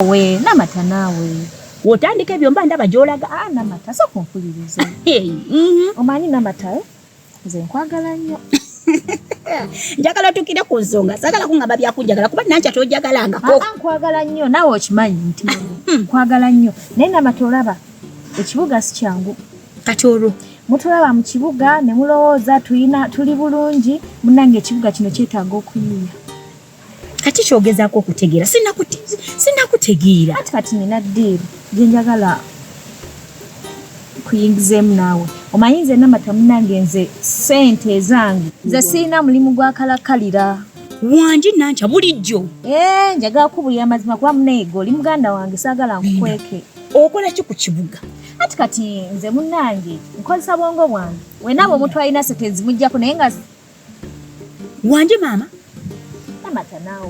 we namata naawe wotandika ebyo mba ndaba gyolaga a ah, namata soka ompuliriza mm-hmm. omanyi namata eh? nze nkwagala nnyo njagala tukire ku nsonga sagala kungamba byakunjagala kuba nankya tojagalangako ah, ah, nkwagala nnyo naawe okimanyi nti hmm. nkwagala nnyo naye namata olaba ekibuga si kyangu kati olwo mutulaba mu kibuga ne mulowooza tulina tuli bulungi munange ekibuga kino kyetaaga okuyiiya kati kyogezaako okutegeera sinakutegeera kati kati nina diiru gyenjagala kuyingizeemu naawe omanyi nze namata munange nze sente ezange nze sirina mulimu gwakalakalira wangi nankya bulijjo eh, njagala kubulira amazima kuba muneege oli muganda wange saagala nkukweke okola ki ku kibuga ati kati nze munange nkozesa bwongo bwange wenaba omuntu alina sente zimujjako naye nga wanje maama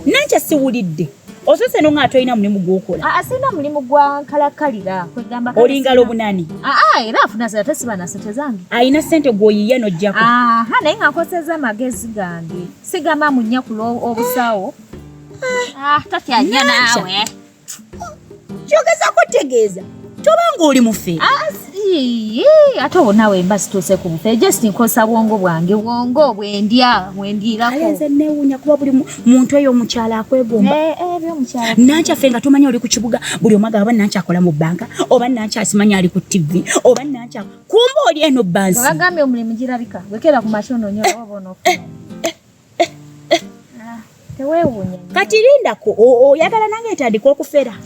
nankya siwulidde osose no nga atolina mulimu gwokola ah, ah, sirina mulimu gwa nkalakalira kwegamba olingala obunani ah, era afuna zira tesibana sente zange alina sente gwoyiya nojjako naye nga nkoseza amagezi gange sigamba munyakula obusawo tatyanya naawe kyogeza kutegeeza toba ng'oli mufe ah, ate owo nawe mba situuse ku bufe just nkosa bwongo bwange bwongo bwendya bwendiirakonze newunya kuba buli muntu eyo omukyala akwegomba eh, eh, nankyaffe nga tomanya oli ku kibuga buli omu agaba nankyakola mu bbanka oba nankyasimanya ali ku ttivi oba nankya kumba oli eno bansi bagambye omulimu girabika wekera ku makyo nonyo oba oba onofu Tewewunya. Kati lindako oyagala nange etandika okufera.